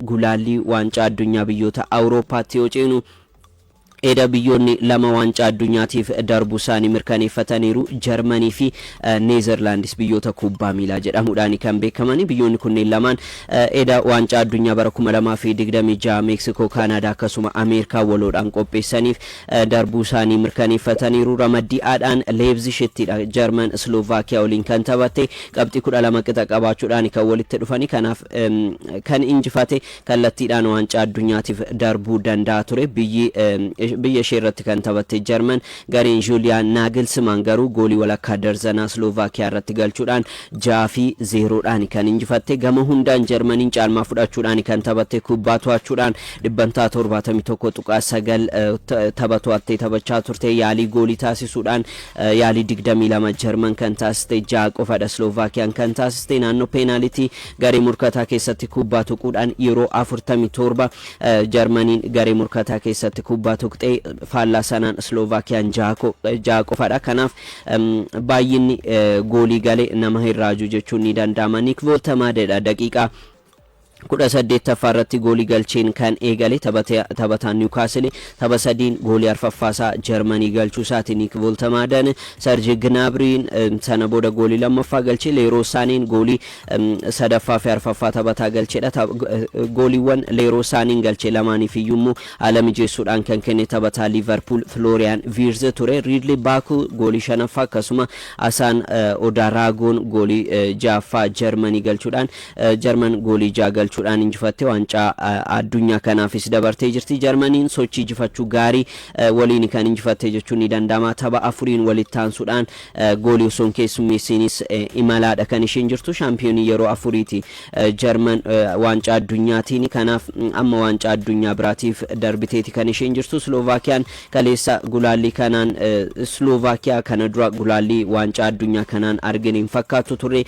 Gulaallii Waancaa Addunyaa biyyoota Awurooppaatti yoo ceenu, eda biyyoonni lama Waancaa Addunyaatiif darbuusaanii mirkaneeffataniiru. Jarmanii fi Neezerlaandis biyyoota kubbaa miilaa jedhamuudhaani kan beekamani. Biyyoonni kunneen lamaan eda Waancaa Addunyaa bara 2026 Meeksikoo, Kaanaadaa akkasuma Ameerikaa waloodhaan qopheessaniif darbuusaanii mirkaneeffataniiru. Ramaddii A'dhaan Leepzishittidha Jarman Isloovakiyaa waliin kan taphatte. Qabxii 12 qixa qabaachuudhaani kan walitti dhufani. Kanaaf kan injifate kallattiidhaan waancaa addunyaatiif darbuu danda'a ture. Biyyi biyya ishee irratti kan taphatte Jarman gareen Juuliyaan Naagilsimaan garuu goolii walakkaa darzanaa Slovaakiyaa irratti galchuudhaan 6 fi 0dhaan kan injifatte. Gama hundaan Jarmaniin caalmaa fudhachuudhaan kan taphatte kubbaa to'achuudhaan dhibbantaa 71.9 tapha to'attee taphachaa turte. Yaalii goolii taasisuudhaan Yaalii digdamii lama Jarman kan taasiste ja'a qofadha, Sloovaakiyaan kan taasiste naannoo peenaalitii garee morkataa keessatti kubbaa tuquudhaan yeroo afurtamii torba Jarmaniin garee morkataa keessatti kubbaa tuqxe, faallaa sanaan Sloovaakiyaan ja'a ko- ja'a qofadha. Kanaaf em, baay'inni eh, goolii gale nama hin raaju jechuun ni danda'ama. Niik Vooltamaadedha daqiiqaa 18ffaa irratti goolii galcheen kan eegale taphataan Niwukaasili tapha sadiin goolii arfaffaasaa Jarmanii galchuusaati Niik Voltemaadan, Sarji Gnaabiriin sana booda goolii lammaffaa galche, Leeroo Saaneen goolii sadaffaa fi arfaffaa taphataa galchedha. Gooliiwwan Leeroo Saaneen galche lamaaniif iyyuu immoo haala mijeessuudhaan kan kenne taphataa Liivarpuul Filooriyaan Viirz ture. Riidli Baakuu goolii shanaffaa akkasuma Asaan Odaaraagoon goolii ja'affaa Jarmanii galchuudhaan Jarman goolii ja'a galchuudhaan injifattee waancaa Addunyaa kanaafis dabartee jirti. Jarmaniin sochii jifachuu gaarii waliini kan injifatte jechuun ni danda'ama. Tapha afuriin walitti aansuudhaan goolii osoo hin keessummeessiinis imalaadha kan isheen jirtu. Shaampiyoonii yeroo afuriiti Jarman waancaa addunyaatiini. Kanaaf amma waancaa addunyaa biraatiif darbiteeti kan isheen jirtu. Sloovaakiyaan kaleessa gulaallii kanaan Sloovaakiyaa kana dura gulaallii waancaa addunyaa kanaan argine hin fakkaattu turre.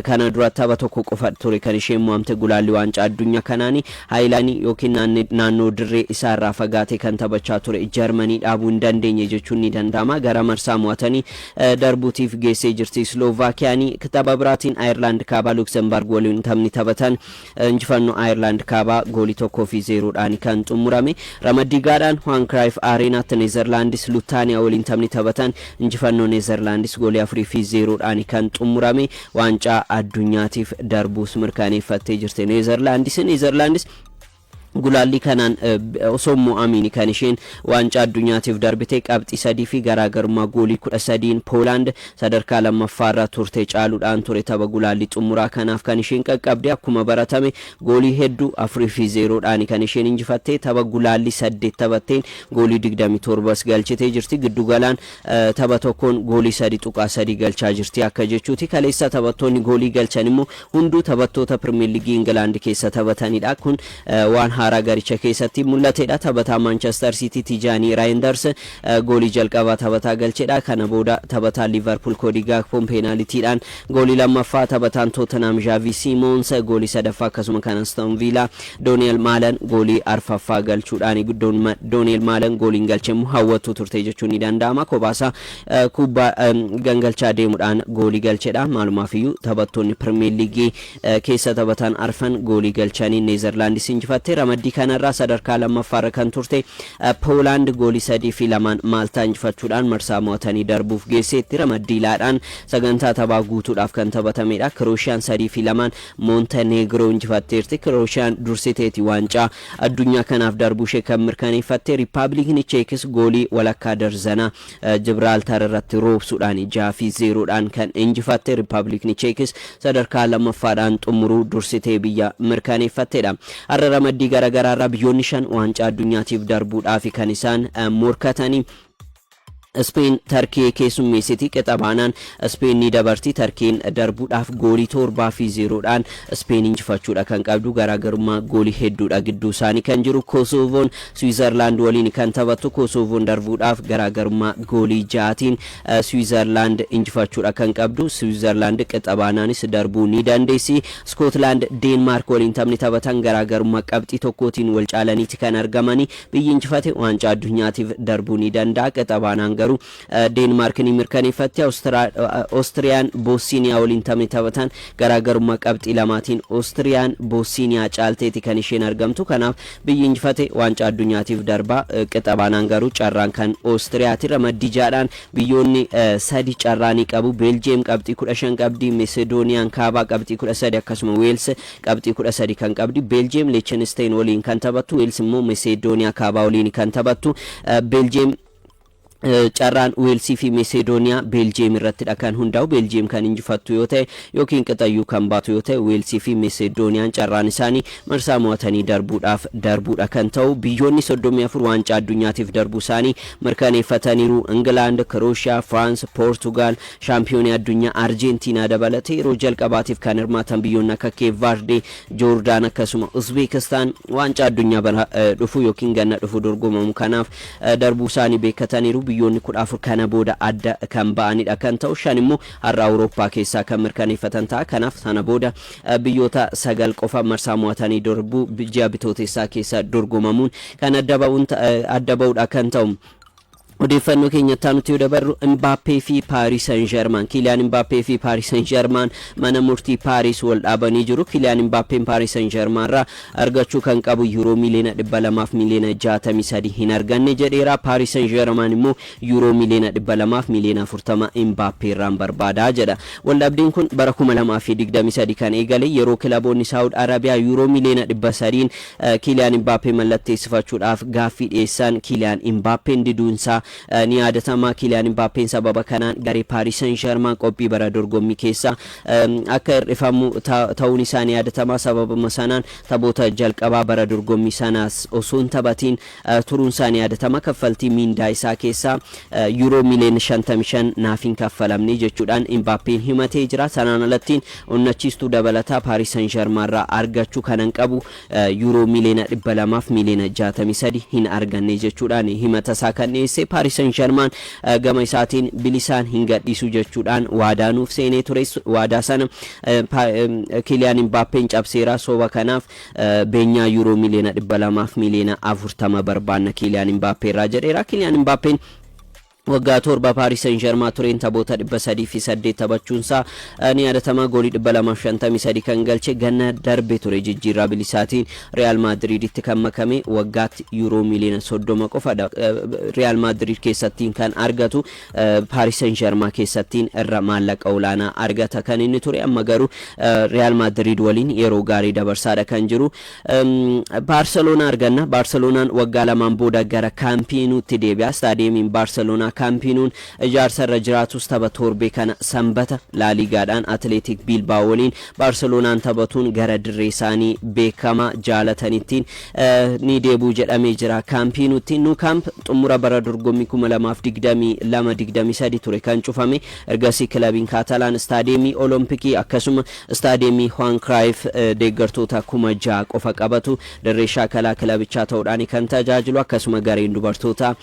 Kana dura tapha tokko qofa ture kan isheen mo'amte gulaalli waancaa addunyaa kanaani. Haayilaanii yookiin naannoo dirree isaa irraa fagaatee kan taphachaa ture Jarmanii dhaabuu hin dandeenye jechuun ni danda'ama. Gara marsaa mo'atanii darbuutiif geessee jirti Isloovaakiyaan. Tapha biraatiin Ayerlaand Kaabaa Luksembarg waliin taphni taphatan Injifannoo Ayerlaand Kaabaa goolii 1 fi 0 dhaan kan xummurame. Ramaddii G'dhaan Juan Cruyff Areenaatti Nezerlaandis Luttaaniyaa waliin taphni taphatan injifannoo Nezerlaandis goolii 4 fi 0 dhaan kan xummurame. Waancaa Addunyaatiif darbuus mirkaneeffattee jirti Nezerlaandis. Nezerlaandis. Gulaallii kanaan osoo hin mo'amiini kan isheen waancaa addunyaatiif darbite qabxii 3 fi garaagarummaa goolii 13n Poolaand sadarkaa 2ffaa irra turte caaluudhaan ture tapha gulaallii xumuraa kanaaf kan isheen qaqqabde. Akkuma baratame goolii heddu 4 fi 0 dhaani kan isheen injifatte. Tapha gulaallii 8 taphatteen goolii 27s galchitee jirti. Giddu galaan tapha tokkoon goolii 3.3 galchaa jirti akka jechuuti. Kaleessa taphattoonni goolii galchan immoo Hunduu taphattoota Pirimeer Liigii Ingilaand keessa taphatanidha. Kun waan haaraa garicha keessatti mul'atedha. Taphataa Maanchester Siitii Tijaanii Raayindars goolii jalqabaa taphataa galchedha. Kana booda taphataan Liivarpuul Koodii Gaakpoon peenaalitiidhaan goolii lammaffaa, taphataan Tootenhaam Zhaavii Siimoons goolii sadaffaa akkasuma kan Aston Viilaa Dooniyel Maalan goolii arfaffaa galchuudhaani. Dooniyel Maalan gooliin galchemmoo hawwattuu turte jechuun ni danda'ama. Kophaasaa kubbaa gangalchaa deemudhaan goolii galchedha. Maalumaafiyyuu taphattoonni Pirimeer Liigii keessa taphatan arfan goolii galchanii Neezerlaandis injifatte. Ramaddii kanarraa sadarkaa lammaffaarra kan turte Poolaand goolii sadii fi lamaan Maaltaa injifachuudhaan marsaa mo'atanii darbuuf geesseetti. Ramaddii laadhaan sagantaa taphaa guutuudhaaf kan taphatamedha. Kirooshiyaan sadii fi lamaan Moontaneegroo injifatteerti. Kirooshiyaan dursiteeti waancaa addunyaa kanaaf darbuushee kan mirkaneeffatte. Riippaabiliikni Cheekis goolii walakkaa darzanaa Jibraaltar irratti roobsuudhaan 6 fi 0 dhaan kan injifatte Rippabilikni Cheekis sadarkaa 2ffaa dhaan xummuruu dursitee biyya mirkaneeffatte dha. Har'a ramaddii garagaraa irraa biyyoonni 5 waancaa addunyaatiif darbuudhaafi kan isaan morkatani. Ispeen Tarkiyee keessummeessiti. Qixa baanaan Ispeen ni dabarti. Tarkiyeen darbuudhaaf goolii 7 fi 0 dhaan Ispeen injifachuudha kan qabdu. Garaagarummaa goolii hedduudha gidduu isaanii kan jiru. Kosoovoon Siwiizarlaand waliin kan taphattu Kosoovoon darbuudhaaf garaagarummaa goolii ja'aatiin Siwiizarlaand injifachuudha kan qabdu. Siwiizarlaand qixa baanaanis darbuu ni dandeessi. Iskootlaand Deenmaark waliin taphni taphatan garaagarummaa qabxii tokkootiin wal caalaniiti kan argamani. Biyyi injifate waancaa addunyaatiif darbuu ni danda'a. Qixa baanaan garuu Deenmaark ni mirkaneeffatti. Ostiriyaan Boossiiniyaa waliin taphni taphatan garaagarummaa qabxii lamaatiin Ostiriyaan Boossiiniyaa caalteeti kan isheen argamtu. Kanaaf biyyi injifate waancaa addunyaatiif darba. Qixa baanaan garuu carraan kan Ostiriyaati. Ramaddii ja'adhaan biyyoonni sadi carraa ni qabu. Beeljiyeem qabxii 15 qabdi. Mesedooniyaan Kaabaa qabxii 13 akkasuma Weels qabxii 13 kan qabdi. Beeljiyeem Leechenisteeyin waliin kan taphattu. Weels immoo Mesedooniyaa Kaabaa waliin kan taphattu. Beeljiyeem Eh, Carraan Weelsii fi Meseedooniyaa Beeljiyeem irrattidha kan hundaa'u. Beeljiyeem kan injifattu yoo ta'e yookiin qixayyuu kan baatu yoo ta'e Weelsii fi Meseedooniyaan carraan isaanii marsaa mo'atanii darbuudhaaf darbuudha kan ta'u. Biyyoonni 34 waancaa addunyaatiif darbuu isaanii mirkaneeffataniiru. Ingilaand, Kirooshiyaa, Firaans, Poortugaal, shaampiyoonii addunyaa Arjeentiinaa dabalatee yeroo jalqabaatiif kan hirmaatan biyyoonni akka Keep Vaardee, Joordaan akkasuma Uzbeekistaan waancaa addunyaa bara eh, dhufu yookiin ganna dhufu dorgomamu kanaaf darbuusaanii beekkataniiru. Biyyoonni 14 kana booda adda kan ba'anidha kan ta'u, shan immoo har'a Awurooppaa keessaa kan mirkaneeffatan ta'a. Kanaaf sana booda biyyoota sagal qofa marsaa mo'atanii darbuu ji'a Bitootessaa keessa dorgomamuun kan adda ba'uun adda ba'udha kan ta'u. Odeeffannoo keenya itti aanutti yoo dabarru Imbaappee fi Paaris Saint Germain Kiiliyaan Imbaappee fi Paaris Saint Germain mana murtii Paaris wal dhaabanii jiru. Kiiliyaan Imbaappeen Paaris Saint Germain irraa argachuu kan qabu Yuuroo miiliyoona 200 fi miiliyoona 63 hin arganne jedheera. Paaris Sen Jeeramaan immoo Yuuroo miiliyoona 200 fi miiliyoona 40 Imbaappee irraan barbaada jedha. Waldhabdeen kun bara 2023 kan eegale yeroo kilaboonni Saawud Arabiyaa Yuuroo miiliyoona 300n Kiiliyaan Imbaappee mallatteessifachuudhaaf gaaffii dhiyeessan Kiiliyaan Imbaappeen diduunsaa ni yaadatama. Kiiliyaan Imbaappeen sababa kanaan garee Paaris Sen Jeermaan qophii bara dorgommii keessaa akka hir'ifamu ta'uun isaa ni yaadatama. Sababuma sanaan taphoota jalqabaa bara dorgommii sanaas osoo hin taphatiin turuun isaa ni yaadatama. Kaffaltii miindaa isaa keessaa Yuuroo miiliyoona 55 naaf hin kaffalamne jechuudhaan Imbaappeen himatee jira. Sanaan alattiin onnachiistuu dabalataa Paaris San Jarmaanirraa argachuu kanan qabu Yuuroo miiliyoona 200 fi miiliyoona 63 hin arganne jechuudhaan himata isaa kan dhiyeesse Paaris Sen Jarmaan gama isaatiin bilisaan hin gadhiisu jechuudhaan waadaa nuuf seenee ture. Waadaa sana Kiiliyaan Imbaappeen cabseera. Soba kanaaf beenyaa Yuuroo miiliyoona 200 fi miiliyoona 40 barbaanna Kiiliyaan Imbaappee irraa jedheera. Kiiliyaan Imbaappeen Waggaa 7 Paaris Sen Jermaa tureen taphoota 308 taphachuunsaa ni yaadatama. Goolii 253 kan galche ganna darbe ture jijjiirraa bilisaatiin Riyaal Maadiriiditti kan makame waggaatti yuuroo miiliyoona 30 qofadha. Riyaal Maadiriid keessattiin kan argatu Paaris Sen Jermaa keessattiin irra maallaqa olaanaa argata kan inni ture amma garuu Riyaal Maadiriid waliin yeroo gaarii dabarsaadha kan jiru. Baarseloonaa arganna. Baarseloonaan waggaa lamaan booda gara Kaampiinuutti deebi'a. Istaadiyeemiin Baarseloonaa Kaampiinuun ijaarsa irra jiraatus tapha torbee kana Sanbata Laaliigaadhaan Atileetik Biilbaa'oo waliin Baarseloonaan taphatuun gara dirree isaanii beekamaa jaalatanittiin ni deebi'u jedhamee jira. Kaampiinuutti Nou Camp xumura bara dorgommii 2022-23 ture kan cufame. Ergasii kilabiin Kaatalaan istaadiyeemii Olompikii akkasuma Istaadiyeemii Huwaan Kiraayif deeggartoota kuma ja'a qofa qabatu dirree shaakalaa kilabichaa ta'uudhaani kan tajaajilu akkasuma gareen dubartootaa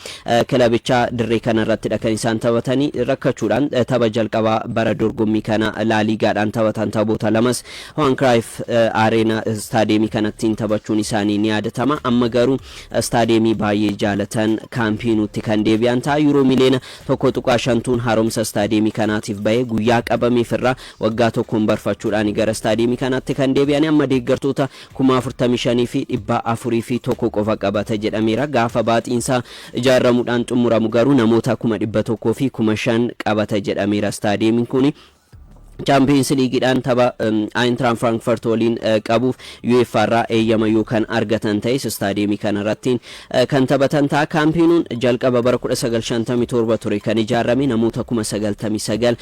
kilabichaa dirree kana irrattidha kan isaan taphatani rakkachuudhaan tapha jalqabaa bara dorgommii kana Laa Liigaadhaan taphatan taphoota lamas Huwaan Kiraayif Areena istaadiyeemii kanattiin taphachuun isaanii ni yaadatama amma garuu istaadiyeemii baay'ee jaalatan Kaampiinuutti kan deebi'an ta'a Yuuroo miliyoona 1.5 tuun haaromsa istaadiyeemii kanaatiif bahee guyyaa qabameef irraa Waggaa tokkoon barfachuudhaan gara istaadiyeemii kanaatti kan deebi'an amma deeggartoota 45,401 qofa qabata jedhameera. Gaafa baaxiinsaa ijaarramuudhaan xumuramu garuu namoota 100,005 qabata jedhameera istaadiyeemiin kuni. Chaampiyeens Liigiidhaan tapha Ayintiraan Firaankfurt waliin qabuuf UEFA irraa eeyyama yoo kan argatan ta'es istaadiyeemii kanarrattiin kan taphatan ta'a. Kaampiinuun jalqaba bara 1957 ture kan ijaarame namoota 99,000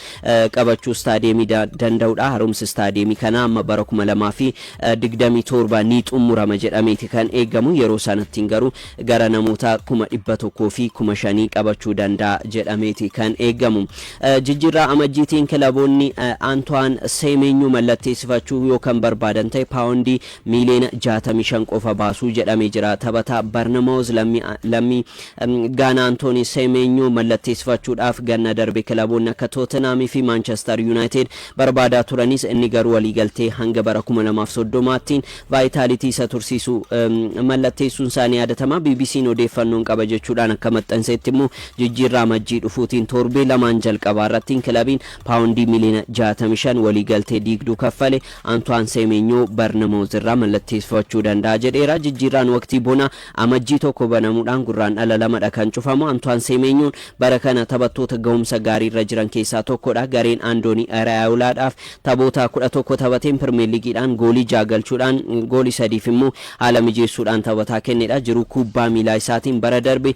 qabachuu istaadiyeemii danda'udha. Haaromsi istaadiyeemii kanaa amma bara 2027 ni xumurama jedhameeti kan eegamu. Yeroo sanattiin garuu gara namoota 100,000 fi 5,000 qabachuu danda'a jedhameeti kan eegamu. Jijjiirraa amajjiitiin kilaboonni Antoine Semenyo mallatteessifachuu yoo kan barbaadan ta'e paawondii miiliyoona 65 qofa baasuu jedhamee jira. Taphataa Barnamaawuz lammii Gaanaa Antoonii Seemeenyoo mallatteessifachuudhaaf ganna darbe kilaboonni akka Tootenhaam fi Maanchestar Yuunaayitid barbaadaa turanis inni garuu waliigaltee hanga bara 2030ttiin vaayitaalitii isa tursiisu mallatteessuun isaa ni yaadatama. BBC'n odeeffannoon qaba jechuudhaan akka maxxansetti immoo jijjiirraa Amajjii dhufuutiin torbee lamaan jalqabaa irrattiin kilabiin paawondii miliyoona 65 waliigaltee diigduu kaffale Antoine Seemeenyoo Barnamooz irraa mallatteessifachuu danda'a jedheera. Jijjiirraan waqtii bonaa Amajjii 1 banamuudhaan Gurraandhala 2 dha kan cufamu. Antuwaan Seemeenyoon bara kana taphattoota gahumsa gaarii irra jiran keessaa tokko dha. Gareen Andoonii Iraayoolaa dhaaf taphoota 11 taphateen Pirmeer Liigiidhaan goolii 6 galchuudhaan goolii 3 fi immoo haala mijeessuudhaan taphataa kenne dha. Jiruu kuubbaa miilaa isaatiin bara darbe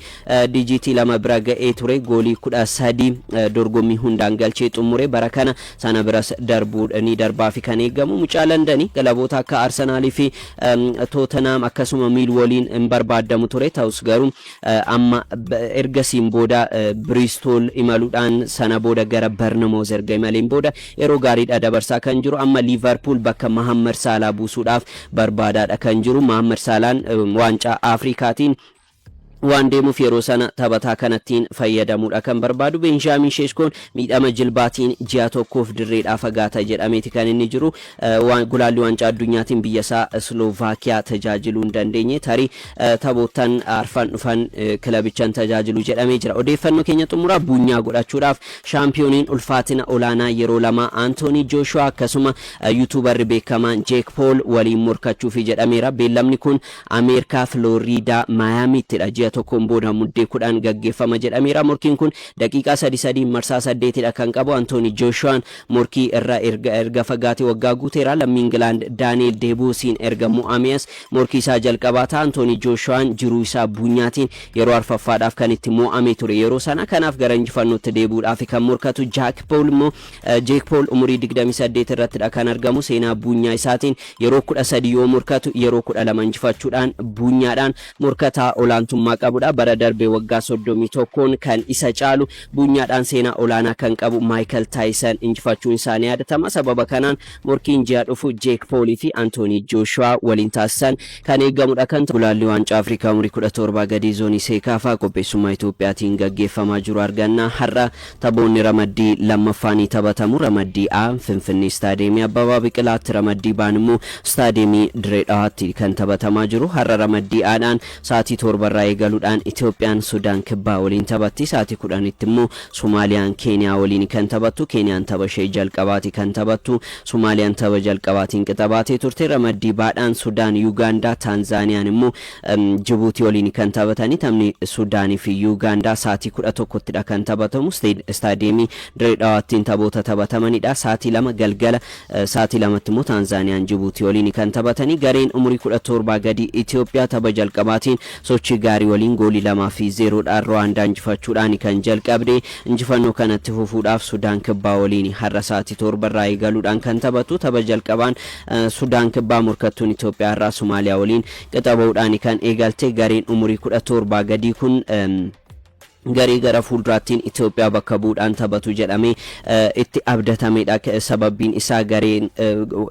dijiitii 2 bira ga'ee ture. Goolii 13 dorgommii hundaan galchee xummure. Bara kana Sana biras darbuudha ni darbaafi kan eegamu mucaa Landani. Kilaboota akka Arsenal fi Tottenham akkasuma Millwalliin hin barbaadamu ture. Ta'us garuu amma ergasiin booda Bristol imaluudhaan sana booda gara Bournemouth erga imaleen booda yeroo gaariidha dabarsaa kan jiru. Amma Liverpool bakka Mohamed Salah buusuudhaaf barbaadaadha kan jiru. Mohamed Salah waancaa Afrikaatiin waan deemuuf yeroo sana taphataa kanattiin fayyadamuudha kan barbaadu. Beenjaamiin Sheeskoon miidhama jilbaatiin ji'a tokkoof dirreedhaa fagaata jedhameeti kan inni jiru. Gulaallii Waancaa Addunyaatiin biyyasaa Isloovakiyaa tajaajiluu hin dandeenye. Tarii taphoottan arfan dhufan kilabichan tajaajilu jedhamee jira. Odeeffannoo keenya xumuraa buunyaa godhachuudhaaf shaampiyooniin ulfaatina olaanaa yeroo lama Antoonii Jooshuwaa akkasuma yuutuubarri beekamaan Jeek Pool waliin morkachuufi jedhameera. Beellamni kun Ameerikaa Filooriidaa Maayaamiittidha. Ji'a tokkoon booda Muddee 10 gaggeeffama jedhameera. Morkiin kun daqiiqaa sadi sadiin marsaa saddeetidha kan qabu. Antoonii Jooshuwaan morkii irra erga erga fagaatee waggaa guuteera. Lammii Ingilaand Daani'eel Deebuusiin erga mo'amee as morkii isaa jalqabaa ta'a. Antoonii Jooshuwaan jiruu isaa buunyaatiin yeroo arfaffaadhaaf kan itti mo'amee ture yeroo sana. Kanaaf gara injifannootti deebi'uudhaafi kan morkatu. Jaak Pool immoo Jeek Pool umurii digdamii saddeet irrattidha kan argamu. Seenaa buunyaa isaatiin yeroo kudha sadii yoo morkatu yeroo kudha lama injifachuudhaan buunyaadhaan morkataa olaantummaa qabudha. Bara darbe waggaa soddomii tokkoon kan isa caalu buunyaadhaan seenaa olaanaa kan qabu Maayikal Taayisan injifachuun isaa ni yaadatama. Sababa kanaan morkiin ji'a dhufu Jeek Pool fi Antoonii Jooshuwaa waliin taasisan kan eegamudha kan ta'u. Gulaallii Waancaa Afrikaa umurii kudha torba gadii Zoonii Seekaafaa qopheessummaa Itoophiyaatiin gaggeeffamaa jiru arganna har'a Taphoonni ramaddii 2ffaa ni taphatamu. Ramaddii A, Finfinnee Istaadiyeemii Abbabaa Biqilaatti, Ramaddii B'n immoo Istaadiyeemii Diree Dhawaatti kan taphatamaa jiru. Har'a Ramaddii A dhaan sa'aatii 7:00 irraa eegaluudhaan Itoophiyaan Sudaan Kibbaa waliin taphatti. Sa'aatii 10:00tti immoo Somaaliyaan Keeniyaa waliini kan taphattu. Keeniyaan tapha ishee jalqabaati kan taphattu. Somaaliyaan tapha jalqabaatiin qixa baatee turte. Ramaddii B dhaan Sudaan Yugaandaa, Taanzaaniyaan immoo Jibuutii waliin kan taphatani. Taphni Sudaanii fi Yuugaandaa sa'aatii 11ttidha kan taphatamu. Istaadiyeemii Dirree Dhawaattiin taphoota taphatamanidha. Sa'aatii 2 galgala sa'aatii 2tti immoo Taanzaaniyaan Jibuutii waliin kan taphatani. Gareen umurii 17 gadii Itoophiyaa tapha jalqabaatiin sochii gaarii waliin goolii 2 fi 0 dhaan Ruwaandaa injifachuudhaan kan jalqabde. Injifannoo kana itti fufuudhaaf Sudaan Kibbaa waliin har'a sa'aatii 7 irraa eegaluudhaan kan taphatu. Tapha jalqabaan Sudaan Kibbaa morkattuun Itoophiyaa irraa Somaaliyaa waliin Qixa ba'uudhaan kan eegalte gareen umurii 17 gadii kun garee gara fuulduraattiin Itoophiyaa bakka bu'uudhaan taphatu jedhamee itti abdatameedha. Sababbiin isaa gareen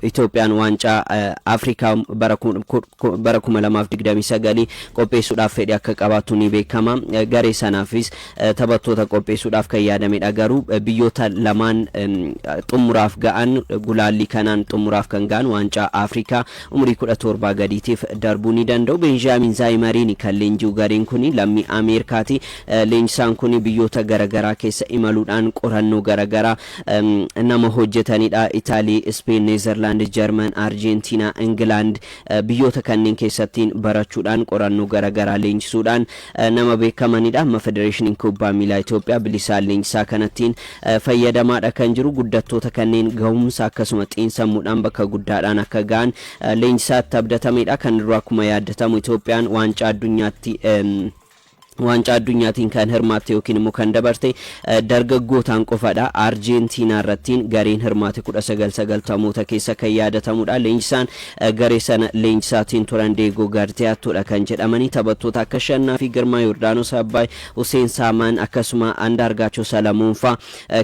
Itoophiyaan waancaa Afrikaa bara 2029 qopheessuudhaaf fedhii akka qabaattu ni beekama. Garee sanaafis taphattoota qopheessuudhaaf kan yaadameedha. Garuu biyyoota lamaan xumuraaf ga'an gulaallii kanaan xumuraaf kan ga'an waancaa Afrikaa Umurii 17 gadiitiif darbuu ni danda'u. Beenjaamiin Zaayimariini kan leenji'u gareen kuni lammii Ameerikaati. Leenjisaan kuni biyyoota garagaraa keessa imaluudhaan qorannoo garagaraa nama hojjetanidha. Itaalii, Ispeen, Neezarlaand, Jarman, Arjeentiinaa, Ingilaand biyyoota kanneen keessattiin barachuudhaan qorannoo garagaraa leenjisuudhaan nama beekamanidha. Amma Federeeshiniin Kubbaa Miilaa Itoophiyaa bilisaan leenjisaa kanattiin fayyadamaadha kan jiru. Guddattoota kanneen gahumsa akkasuma xiinsammuudhaan bakka guddaadhaan akka gahan leenjisaatti abdatameedha. Kan dura akkuma yaaddatamu Itoophiyaan waancaa addunyaatti waancaa addunyaatiin kan hirmaatte yookiin immoo kan dabarte dargaggootaan qofadha. Arjeentiinaa irrattiin gareen hirmaate 1990moota keessa kan yaadatamudha. Leenjisaan garee sana leenjisaatiin turan Deegoo Gartiyaattoodha kan jedhamanii taphattoota akka Shannaa fi Girmaa Yordaanos Abbaay Huseen Saamaan akkasuma Andaargaachoo Salamoonfaa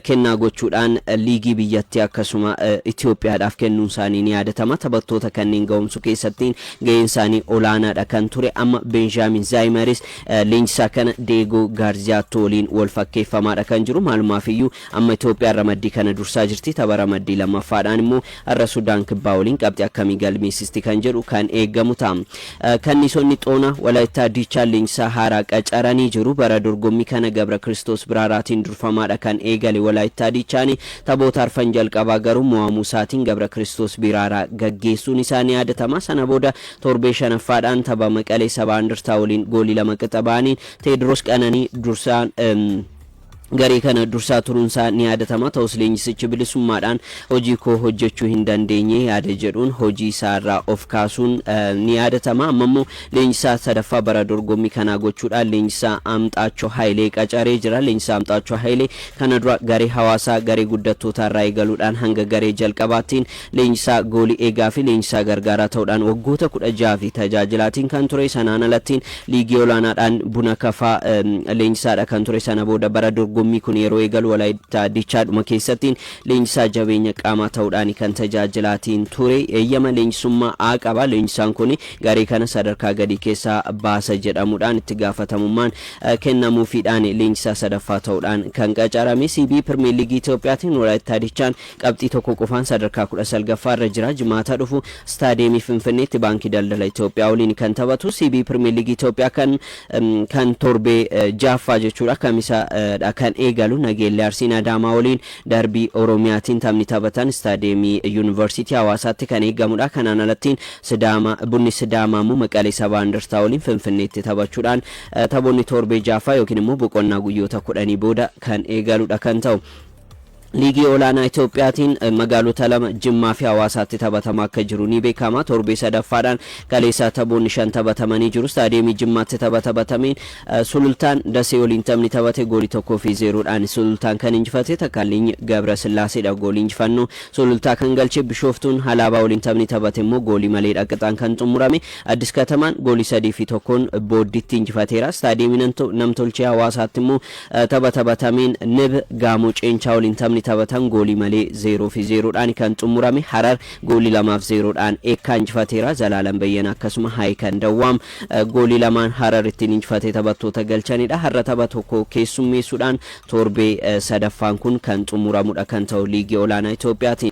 kennaa gochuudhaan liigii biyyattii akkasuma Itoophiyaadhaaf kennuunsaanii ni yaadatama. Taphattoota kanneen ga'oomsuu keessatti ga'eensaanii olaanaadha kan ture. Amma Beenjaamiin Zaayimaris leenjisaa kana Deegoo Gaarziyaatto waliin walfakkeeffamaadha kan jiru. Maalumaafiyyuu Amma Itoophiyaan ramaddii kana dursaa jirti. Tapha ramaddii lammaffaadhaan immoo har'a Sudaan Kibbaa waliin qabxii akkamii galmeessisti kan jedhu kan eegamu ta'a. Kanniisonni Xoonaa Walaayittaa Diichaan leenjisaa haaraa qacaranii jiru. Bara dorgommii kana Gabrakiristoos Biraaraatiin durfamaadha kan eegale Walaayittaa Diichaan. Taphoota arfan jalqabaa garuu mo'amuu isaatiin Gabrakiristoos Biraaraa gaggeessuun isaa ni yaadatama. Sana booda torbee shanaffaadhaan tapha Maqalee Sabaa Indirtaa waliin goolii lama qixa bahaniin Teediroos Qananii dursaan Garee kana dursaa turuunsaa ni yaadatama. Ta'us leenjisichi bilisummaadhaan hojii koo hojjechuu hin dandeenye yaada jedhuun hojii isaa irraa of kaasuun ni yaadatama. Amma immoo leenjisaa sadaffaa bara dorgommii kanaa gochuudhaan leenjisaa Amxaachoo Hayilee qacaree jira. Leenjisaa Amxaachoo Hayilee kana dura garee Hawaasaa garee guddattootaa irraa eegaluudhaan hanga garee jalqabaattiin Leenjisaa goolii eegaafi leenjisaa gargaaraa ta'uudhaan waggoota kudha ja'aafi tajaajilaatiin kan ture. Sanaan alattiin liigii olaanaadhaan Buna Kafaa leenjisaadha kan ture. Sana booda bara dorgommii kun yeroo eegalu Walaayittaa Dichaadhuma keessattiin leenjisaa jabeenya qaamaa ta'uudhaani kan tajaajilaatiin ture. Eeyyama leenjisummaa A qaba. Leenjisaan kun garee kana sadarkaa gadii keessaa baasa jedhamuudhaan itti gaafatamummaan kennamuufiidhaani leenjisaa sadaffaa ta'uudhaan kan qacarame. CB Pirmeerliigii Itoophiyaatiin Walaayittaa Dichaan Qabxii tokko qofaan sadarkaa 19ffaa irra jira. Jimaata dhufu Istaadiyeemii Finfinneetti Baankii Daldala Itoophiyaa waliin kan taphatu CB Pirimeer Liigii Itoophiyaa kan kan torbee 6ffaa jechuudha Kamisa dha kan eegalu. Nageellee Arsiin Adaamaa waliin darbii Oromiyaatiin taphni taphatan Istaadiyeemii Yuunivarsiitii Hawaasaatti kan eegamudha. Kanaan alattiin Sidaama Bunni Sidaamaa immoo Maqalee Sabaa Indartaa waliin Finfinneetti taphachuudhaan taphoonni torbee 6ffaa yookiin immoo boqonnaa guyyoota 10 booda kan eegaludha kan ta'u. Liigii Olaanaa Itoophiyaatiin magaalota lama Jimmaa fi Hawaasaatti taphatamaa akka jiru ni beekama. Torbee sadaffaadhaan kaleessaa taphoonni shan taphatamanii jiru. Istaadiyeemii Jimmaatti tapha taphatameen Sulultaan Dasee waliin taphni taphate goolii 1 fi 0 dhaan Sulultaan kan injifate Takkaalliny Gabrasillaaseedha goolii injifannoo Sulultaa kan galche. Bishooftuun Halaabaa waliin taphni taphate immoo goolii maleedha qixaan kan xumurame. Addis Katamaan goolii 3 fi 1n Booddiitti injifateera. Istaadiyeemii Namtolchee Hawaasaatti immoo Tapha taphatameen Nib Gaamoo Ceenchaa waliin taphni taphatan goolii malee 0 fi 0 dhaan kan xummurame. Harar goolii 2 fi 0 dhaan Eekkaa injifateera. Zalaalam Beyyena akkasuma Haayikan Dawwaam goolii lamaan Harar ittiin injifate taphattoota galchanidha. Har'a tapha tokko keessummeessuudhaan torbee sadaffaan kun kan xummuramudha kan ta'u Liigii Olaanaa Itoophiyaatiin.